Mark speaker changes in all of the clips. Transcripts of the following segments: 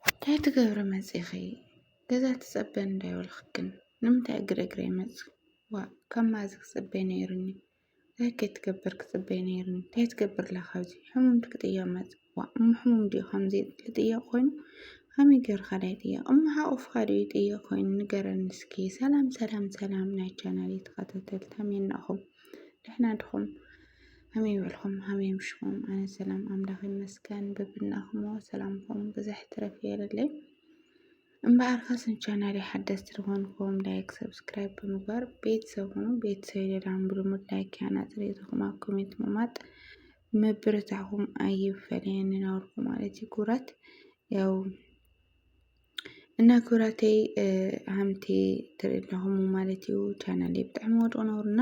Speaker 1: እንታይ ትገብሪ መፂኺ ገዛ ትፀበ እንዳይበልኽክን ንምንታይ እግሪ እግረይ መፂ ዋእ ካብ መኣዝ ክፅበ ነይሩኒ እንታይ ከይትገብር ክፅበ ነይሩኒ እንታይ ትገብር ኣላ ካብዚ ሕሙም ድክ ጥያቕ መፅ ዋእ እሞ ሕሙም ድዩ ከምዚ ልጥያቕ ኮይኑ ከመይ ገይርካ ዳይ ጥያቕ እሞ ሓቑፍካ ድዩ ጥያቕ ኮይኑ ንገረኒ እስኪ ሰላም ሰላም ሰላም ናይ ቻናል ተኸታተልቲ ከመይ ናኹም ደሕና ድኹም ከመይ በልኹም ከመይ ምሽኹም? ኣነ ሰላም ኣምላኽ ይመስገን በብናኹሞ ሰላምኹም ብዘሕ ትረፍ የለለይ እምበኣር ካስን ቻናል ሓደስቲ ዝኾንኩም ላይክ ሰብስክራይብ ብምግባር ቤተሰብ ሁኑ ቤተሰብ ይደዳም ብልሙድ ላይክ ያና ፅሬትኹም ኣብ ኮሜንት ምማጥ መብረታኹም ኣይፈለየኒ ናበልኩ ማለት እዩ ክብራት ያው እና ክብራተይ ሃምቲ ትርኢ ኣለኹም ማለት እዩ ቻናል ብጣዕሚ ወድቑ ነውርና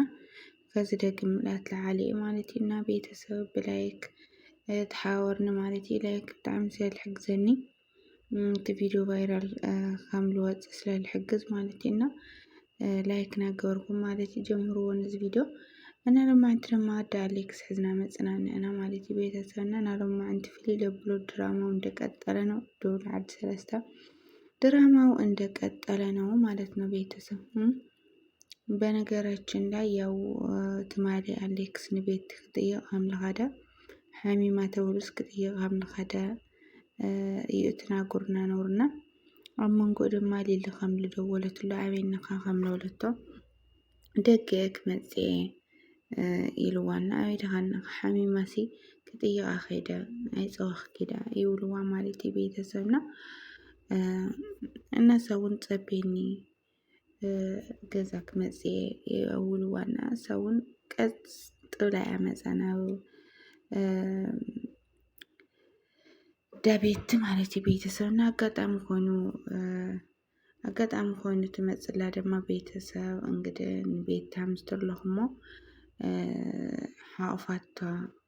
Speaker 1: ከዚ ደግም ምላት ለዓሊ እዩ ማለት እዩ እና ቤተሰብ ብላይክ ተሓወርኒ ማለት እዩ ላይክ ብጣዕሚ ስለ ዝሕግዘኒ እቲ ቪድዮ ቫይራል ከም ዝወፅእ ስለ ዝሕግዝ ማለት እዩ እና ላይክ ናገበርኩም ማለት እዩ ጀምርዎ ነዚ ቪድዮ እና ለማዕንቲ ድማ ኣደ ኣሌክስ ሕዝና መፅናን እና ማለት እዩ ቤተሰብና እና ለማዕንቲ ፍልይ ለብሎ ድራማው እንደቀጠለ ነው ደውል ዓድ ሰለስተ ድራማው እንደቀጠለ ነው ማለት ነው ቤተሰብ በነገራችን ላይ ያው ትማሊ ኣሌክስ ንቤት ክጥይቅ ኣምላኻደ ሓሚማ ተብሉስ ክጥይቅ ኣምላኻደ እዩ እቲ ናጉርና ነውርና ኣብ መንጎ ድማ ሊሊ ከም ዝደወለትሉ ኣበይንኻ ከም ዝበለቶ ደገ ክመፅእ እየ ኢልዋ እና ኣበይ ድኻ እንኻ ሓሚማሲ ክጥይቓ ከይደ ኣይፀወኽ ኪዳ ይብልዋ ማለት እዩ ቤተሰብና እነሰ እውን ፀቤኒ ገዛ ክመፅ እየ ኣብ እዉን ዋና ንሳ እዉን ቀጥ ብላ እያ መፃ ናብ እንዳ ቤቲ ማለት እዩ ቤተሰብ እና ኣጋጣሚ ኮይኑ ኣጋጣሚ ኮይኑ ትመፅእ ኣላ ድማ ቤተሰብ እንግዲህ ንቤታ ምስ ተለኹሞ ሓቑፋታ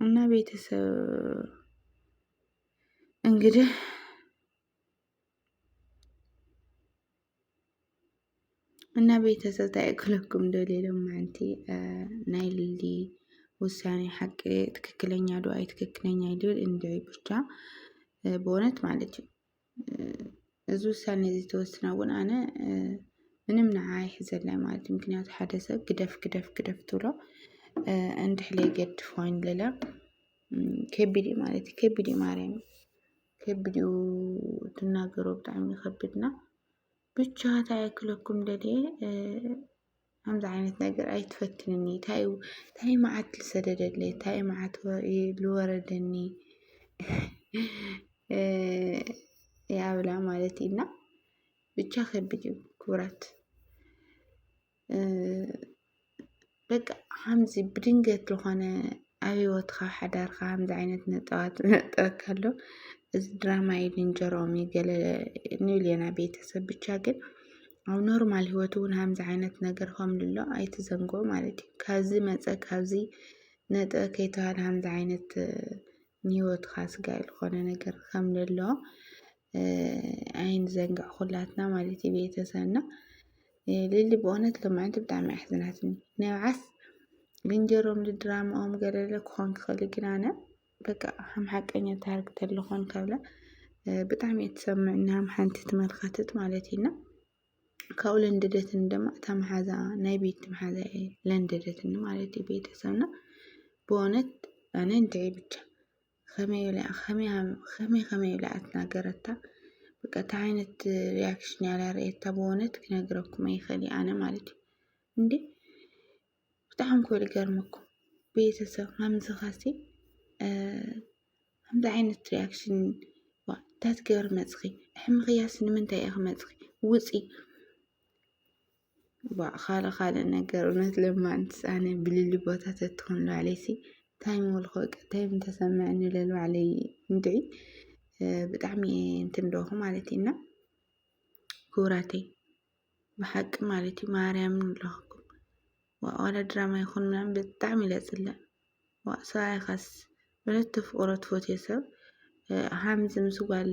Speaker 1: እና ቤተሰብ እንግዲህ እና ቤተሰብ ታይክለኩም እንደሌለው ማንቲ ናይ ልዲ ውሳኔ ሐቂ ትክክለኛ ዱአይ ትክክለኛ ይድል እንደ ብቻ በእውነት ማለት እዩ። እዚ ውሳነ እዚ ተወስና እውን ኣነ ምንም ንዓኣ ኣይሕዘላን ማለት እዩ። ምክንያቱ ሓደ ሰብ ግደፍ ግደፍ ግደፍ ትብሎ እንድሕር ዘይገድፍ ኮይኑ ለለ ከቢድ እዩ ማለት እዩ። ከቢድ እዩ ማርያም ከቢድ እዩ ትናገሮ ብጣዕሚ ይኸብድና። ብቻ ታይ ክለኩም ደልየ ከምዚ ዓይነት ነገር ኣይትፈትንኒ ታይ እዩ ታይ እዩ መዓት ዝሰደደለይ ታይ እዩ መዓት ዝወረደኒ ያብላ ማለት እዩ እና ብቻ ከቢድ እዩ ክብራት በቃ ሓምዚ ብድንገት ዝኾነ ኣብ ሂወትካ ሓዳርካ ከምዚ ዓይነት ነጠባት ክነጥረካ ከሎ እዚ ድራማ እዩ ልንጀርኦም እዩ ገለ ንብል ኢና ቤተሰብ ብቻ ግን ኣብ ኖርማል ሂወት እውን ከምዚ ዓይነት ነገር ከም ልሎ ኣይትዘንግዑ ማለት እዩ። ካብዚ መፀ ካብዚ ነጠ ከይተባህለ ከምዚ ዓይነት ንሂወትካ ስጋኢ ዝኾነ ነገር ከም ልሎ ኣይንዘንግዕ ኩላትና ማለት እዩ ቤተሰብና ልሊ ብእውነት ልምዕንቲ ብጣዕሚ ኣሕዝናትኒ ንብዓስ ብንጀሮም ድራማኦም ገለለ ክኾን ክኽእል ግን ኣነ በቃ ከም ሓቀኛ ታሪክ ተልኾን ካብላ ብጣዕሚ እየ ትሰምዕኒ ከም ሓንቲ ትመልከትት ማለት እዩና ካብኡ ለንደደትኒ ድማ እታ መሓዛ ናይ ቤት መሓዛ እየ ለንደደትኒ ማለት እዩ ቤተሰብና ብእውነት ኣነ እንትዒ ብቻ ከመይ ኢላ ከመይ ከመይ ከመይ ኢላ ኣትናገረታ በቃ እንታይ ዓይነት ሪያክሽን ያላ ርእየታ ብእውነት ክነግረኩም ኣይፈሊ ኣነ ማለት እዩ እንዴ ብጣዕሚ ኮ ልገርመኩም ቤተሰብ ከምዚ ካሲ ከምዚ ዓይነት ሪያክሽን ታትገር መፅኺ ሕምኽያስ ንምንታይ ኢኺ መፅኺ ውፂ ዋእ ካልእ ካልእ ነገር እውነት ለማንትስ ኣነ ብልሊ ቦታ ተትኮን ንባዕለይሲ ታይ ምበልኩ በቃ ታይ ምተሰመዐኒ ኢለ ንባዕለይ እንድዒ ብጣዕሚ እየ እንትን እብለኩ ማለት እዩ እና ክቡራተይ ብሓቂ ማለት እዩ ማርያምን ንብለኩኩም ዋእ ዋላ ድራማ ይኹን ምናምን ብጣዕሚ እየ ዝፅላእ ዋእ ሰብኣይ ኻስ ብረት ተፍቅሮ ትፈትዮ ሰብ ሃምዚ ምስ ጓል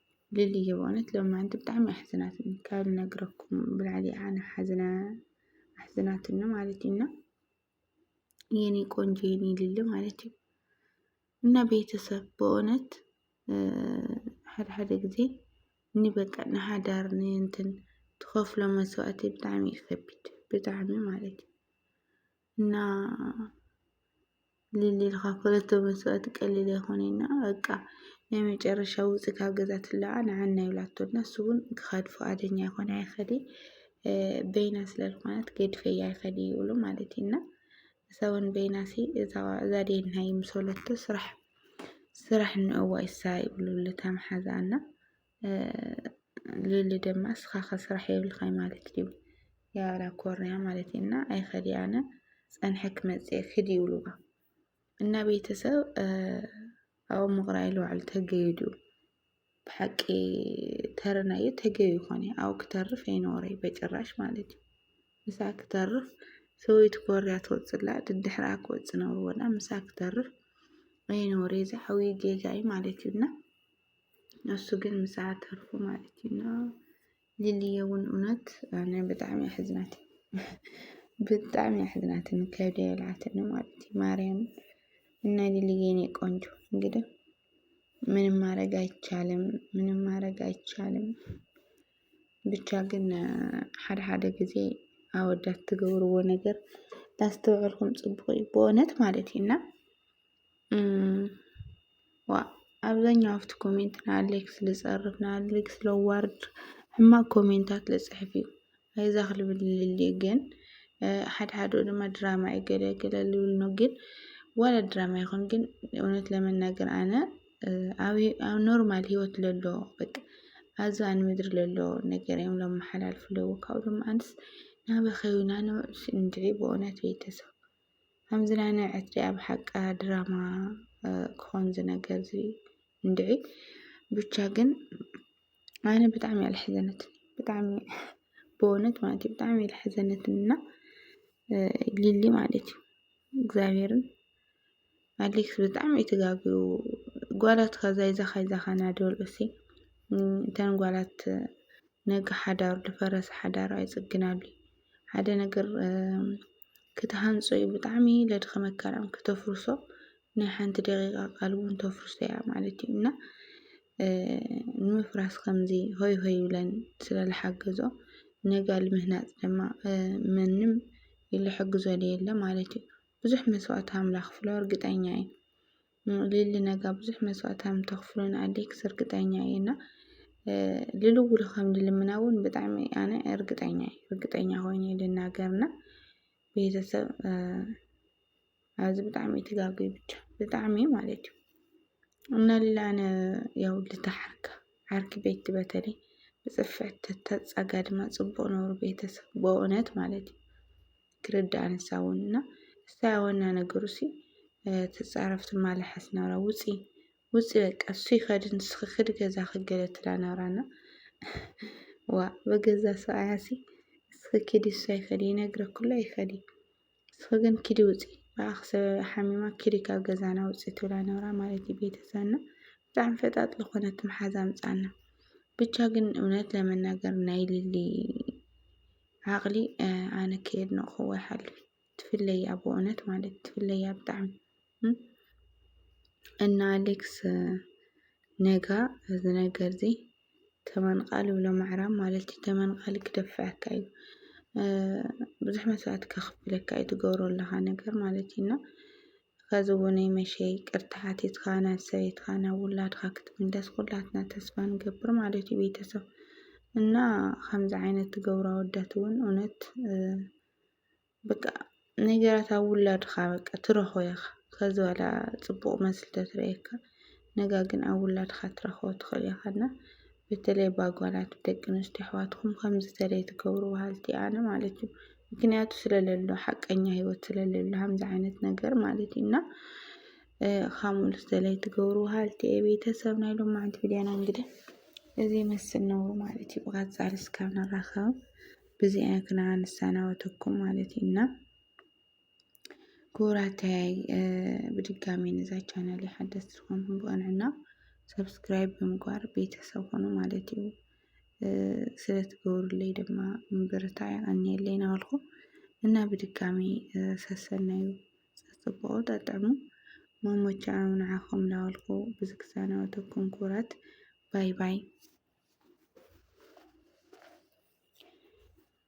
Speaker 1: ሊሊየ በእውነት ሎማዓንቲ ብጣዕሚ ኣሕዚናትኒ ካብ ነግረኩም ብላዕሊ እያ ኣነ ሓዚነ ኣሕዚናትኒ ማለት እዩ እና የኔ ቆንጆ የኔ ሊሊ ማለት እዩ እና ቤተሰብ በእውነት ሓደ ሓደ ጊዜ ንበቃ ንሃዳር ንእንትን ትኸፍሎ መስዋእቲ ብጣዕሚ እዩ ከቢድ ብጣዕሚ ማለት እዩ እና ሊሊ ኢልካ ክልተ መስዋእቲ ቀሊል ኣይኮነና በቃ ናይ መጨረሻ ውፅ ካብ ገዛ ትለዓ ንዓና ይብላቶ እና እሱ እውን ክኸድ ፍቃደኛ ኣይኮነ ኣይኸዲ በይና ስለዝኾነት ገድፈያ ኣይኸዲ ይብሉ ማለት እዩ እና ሰውን በይናሲ እዛ ዴና ይምሰለቶ ስራሕ ስራሕ ንእዋ ይሳ ይብሉ ልተምሓዛ እና ሊሊ ድማ እስኻ ከስራሕ የብልኻይ ማለት እዩ ያላ ኮርንያ ማለት እዩ እና ኣይኸድያነ ፀንሐ ክመፅእ ክድ ይብሉዋ እና ቤተሰብ ኣብ ምቕራይ ለዋዕሉ ተገይዱ ብሓቂ ተረናዩ ተገዩ ይኾነ ኣብ ክተርፍ ኣይኖረይ በጭራሽ ማለት እዩ ምሳ ክተርፍ ሰበይቲ ኮርያ ትወፅላ ድድሕራ ክወፅ ነርዎና ምሳ ክተርፍ ኣይኖረ ዝዓብዩ ጌጋ እዩ ማለት እዩ እና ንሱ ግን ምስኣ ተርፉ ማለት እዩ እና ሊሊየ እውን እውነት ኣነ ብጣዕሚ እየ ሕዝናት ብጣዕሚ እየ ሕዝናት ከብደ የልዓተኒ ማለት እዩ ማርያም እና ሊሊየ የኔ ቆንጆ እንግዲህ ምንም ማድረግ አይቻልም፣ ምንም ማድረግ አይቻልም። ብቻ ግን ሓደ ሓደ ጊዜ ኣወዳት ትገብርዎ ነገር ላስተውዕልኩም ፅቡቅ እዩ ብእውነት ማለት እዩ እና ኣብዛኛው ኣፍቲ ኮሜንት ንኣሌክስ ልጸርፍ ንኣሌክስ ለዋርድ ሕማቅ ኮሜንታት ልጽሕፍ እዩ ኣይዛኽ ልብል ልል ግን ሓደ ሓደ ድማ ድራማ እዩ ገለ ገለ ልብል ነው ግን ዋላ ድራማ ይኹን ግን እውነት ለመናገር ኣነ ኣብ ኖርማል ህይወት ለሎ በቃ ኣዛ ንምድሪ ለሎ ነገር እዮም ለመሓላልፉ ለዉ ካብኡ ድማ ኣንስ ናበኸዩና ንውዕል እንድዒ ብእውነት ቤተሰብ ከምዚ ናይ ናይ ዕትሪያ ብሓቃ ድራማ ክኾን ዝነገር እዚ እንድዒ ብቻ ግን ኣነ ብጣዕሚ እያ ልሕዘነትኒ ብጣዕሚ ብእውነት ማለት እዩ ብጣዕሚ እያ ልሕዘነትኒ እና ሊሊ ማለት እዩ እግዚኣብሔርን ኣሌክስ ብጣዕሚ እዩ ተጋግዩ ጓላት ካዛ ይዛኻ ይዛኻ ናደበሉ እሲ እተን ጓላት ነጋ ሓዳሩ ዝፈረሰ ሓዳሩ ኣይፅግናሉ እዩ ሓደ ነገር ክትሃንፆ እዩ ብጣዕሚ ለድኸመካ ዳኣም ክተፍርሶ ናይ ሓንቲ ደቂቃ ቃል እውን ተፍርሶ እያ ማለት እዩ እና ንምፍራስ ከምዚ ሆይ ሆይ ይብለን ስለዝሓገዞ ነጋ ልምህናፅ ድማ ምንም ይልሕግዞ የለ ማለት እዩ ብዙሕ መስዋእቲ ሃም ላክፍሎ እርግጠኛ እየ ሊሊ ነጋ ብዙሕ መስዋእቲ ሃም ተክፍሎ ንኣዴክስ እርግጠኛ እየ እና ልልውሉ ከም ልልምና እውን ብጣዕሚ ኣነ እርግጠኛ እየ እርግጠኛ ኮይነ ልናገርና ቤተሰብ ኣብዚ ብጣዕሚ ትጋጉ ብቻ ብጣዕሚ ማለት እዩ እና ሊሊ ኣነ ያው ልታሓርካ ዓርኪ ቤት በተለይ ብፅፍዕ ተተፃጋ ድማ ፅቡቅ ነብሩ ቤተሰብ በእውነት ማለት እዩ ክርዳኣ ንሳ እውን እና እሳይ ኣወና ነገሩ ሲ ትፃረፍ ትማላሓስ ናብራ ውፂ ውፂ በቃ እሱ ይኸድ ንስኺ ክዲ ገዛ ክገለ ትላ ናብራ እና ዋ በገዛ ሰብኣያ ሲ እስኺ ኪዲ እሱ ኣይኸዲ ይነግረኩሎ ኣይኸዲ እስኺ ግን ኪዲ ውፂ ብኣኽ ሰብ ሓሚማ ኪዲ ካብ ገዛና ውፂ ትብላ ናብራ ማለት እዩ ቤተሰብና ብጣዕሚ ፈጣጥ ዝኾነት መሓዛ ምፃና ብቻ ግን እውነት ለመናገር ናይ ልሊ ዓቅሊ ኣነ ከየድነቅክዎ ይሓልፍ ትፍለያ በእውነት ማለት ትፍለያ ብጣዕሚ እና ኣሌክስ ነጋ እዚ ነገር እዚ ተመንቓል ይብሎ ምዕራብ ማለት እዩ ተመንቓል ክደፍዐካ እዩ ብዙሕ መስዋእቲ ከኽፍለካ እዩ ትገብሮ ኣለኻ ነገር ማለት እዩ እና ኸዚ እውንይ መሸ ይቅርታ ሓቲትካ ናብ ሰበይትካ ናብ ውላድካ ክትምለስ ኩላትና ተስፋ ንገብር ማለት እዩ ቤተሰብ እና ከምዚ ዓይነት ትገብሩ ኣወዳት እውን እውነት በቃ ነገራት ኣብ ውላድካ በቃ ትረኽቦ ኢኻ ከዚ በላ ፅቡቕ መስሊ ተትርእየካ ነጋ ግን ኣብ ውላድካ ክትረክቦ ትክእል ኢካ እና በተለይ ባጓላት ብደቂ ኣንስትዮ ኣሕዋትኩም ከምዚ ተለይ ትገብሩ በሃልቲ ኣነ ማለት እዩ ምክንያቱ ስለለሎ ሓቀኛ ሂወት ስለለሎ ከምዚ ዓይነት ነገር ማለት እዩ እና ካሙሉ ተለይ ትገብሩ በሃልቲ እየ ቤተሰብ ናይ ሎማዓንቲ ቪድዮና እንግዲህ እዚ ይመስል ነው ማለት እዩ ብቀፃሊ እስካብ ንራከብ ብዚኣ ክና ንሰናበተኩም ማለት እዩ እና ክቡራተይ ብድጋሚ ነዛ ቻናል ሓደስቲ ዝኾንኩም ብቐንዕና ሰብስክራይብ ብምግባር ቤተሰብ ኾኑ ማለት እዩ። ስለትገብሩለይ ድማ ምብርታይ ኣንየለይ ናበልኩ እና ብድጋሚ ሰሰናዩ ጽጽብቑ ጠጥዕሙ መሞቻዑ ንዓኹም ናበልኩ ብዝግዛናወተኩም ክቡራት ባይ ባይ።